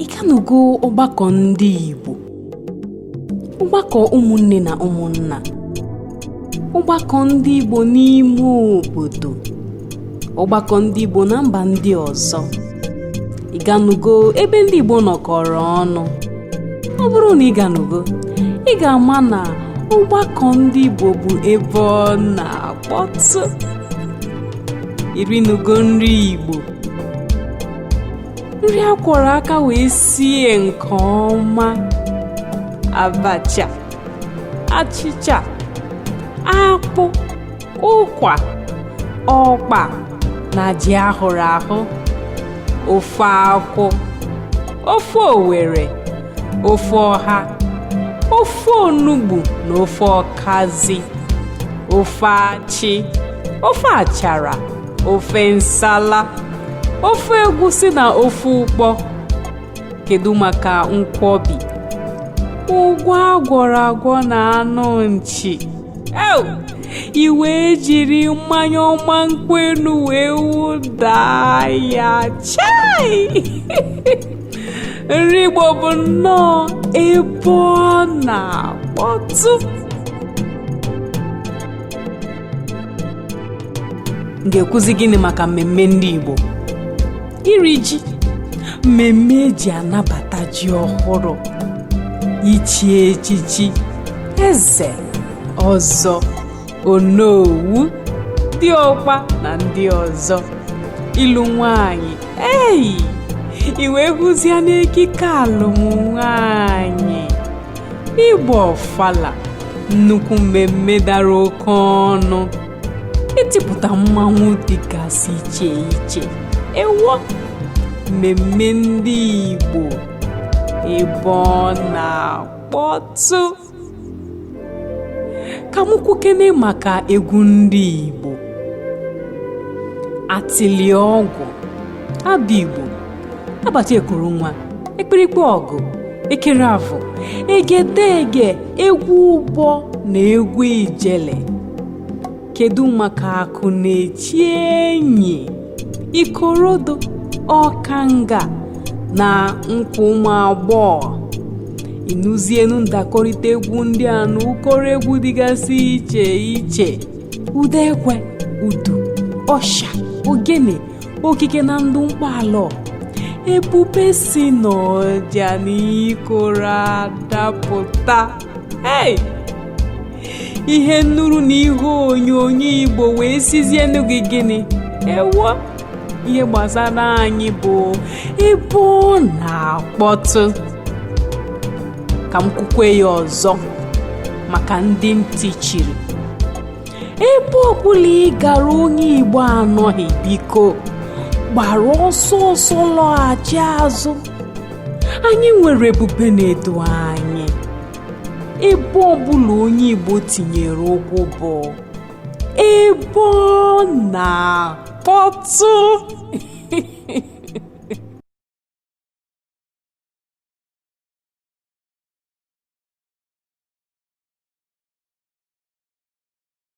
ị ganugo ọgbakọ ndị Igbo ọgbakọ ụmụnne na ụmụnna ọgbakọ ndị Igbo n'ime obodo ọgbakọ ndị Igbo na mba ndị ọzọ ị ganugo ebe ndị Igbo nọkọrọ ọnụ ọ bụrụ na ị ganugo ị ga-ama na ọgbakọ ndị Igbo bụ ebe ọ na-akpọtụ i rinugo nri Igbo nri a kwọrọ aka wee sie nke ọma abacha achịcha akpụ ụkwa ọkpa na ji a hụrụ ahụ ofe akwụ ofe owere ofe ọha ofe onugbu na ofe ọkazị ofe achị ofe achara ofe nsala ofe egwusi na ofe ụkpọ kedu maka nkwọbi ụgwọ agwọrọ agwọ na anụ nchi ew i wee jiri mmanya ọma nkwụ enu wee wụda ya chai nri Igbo bụ nnọọ ebe ọ na-akpọtụ m ga-ekwuzi gịnị maka mmemme ndị Igbo iri ji mmemme e ji anabata ji ọhụrụ ichi echichi eze ọzọ onowu diọkpa na ndị ọzọ ịlụ nwanyị eyi i wee hụzienu ekike alụm nwanyị ịgba ọfala nnukwu mmemme dara oke ọnụ itipụta mmanwụ dịgasị iche iche ewo mmemme ndị Igbo ebe ọ na-akpọtụ ka m kwukene maka egwu ndị Igbo atịlịọgwụ abigbo agbacha ekuru nwa ikpirikpe ọgụ ekere avụ egedege egwu ụbọ na egwu ijele kedu maka akụ na-eche enyi ikorodo ọkanga na nkwa ụmụ agbọghọ ị nụzienu ndakọrịta egwu ndị a na ụkọrọ egwu dịgasị iche iche ụda ekwe udu ọsha ogene okike na ndụ mkpọala ebube si n'ọja na ikoro adapụta hey! ihe nnụrụ na ihe onyonyo igbo wee sizie nụ gị gịnị ewo ihe gbasara anyị bụ ebe ọ na-akpọtụ ka m kwukwe ya ọzọ maka ndị ntị chiri ebe ọbụla ị gara onye igbo anọghị biko gbara ọsọ ọsọ lọghachi azụ anyị nwere ebube na-edu anyị ebe ọbụla onye igbo tinyere ụkwụ bụ ebe ọ na-akpọtụ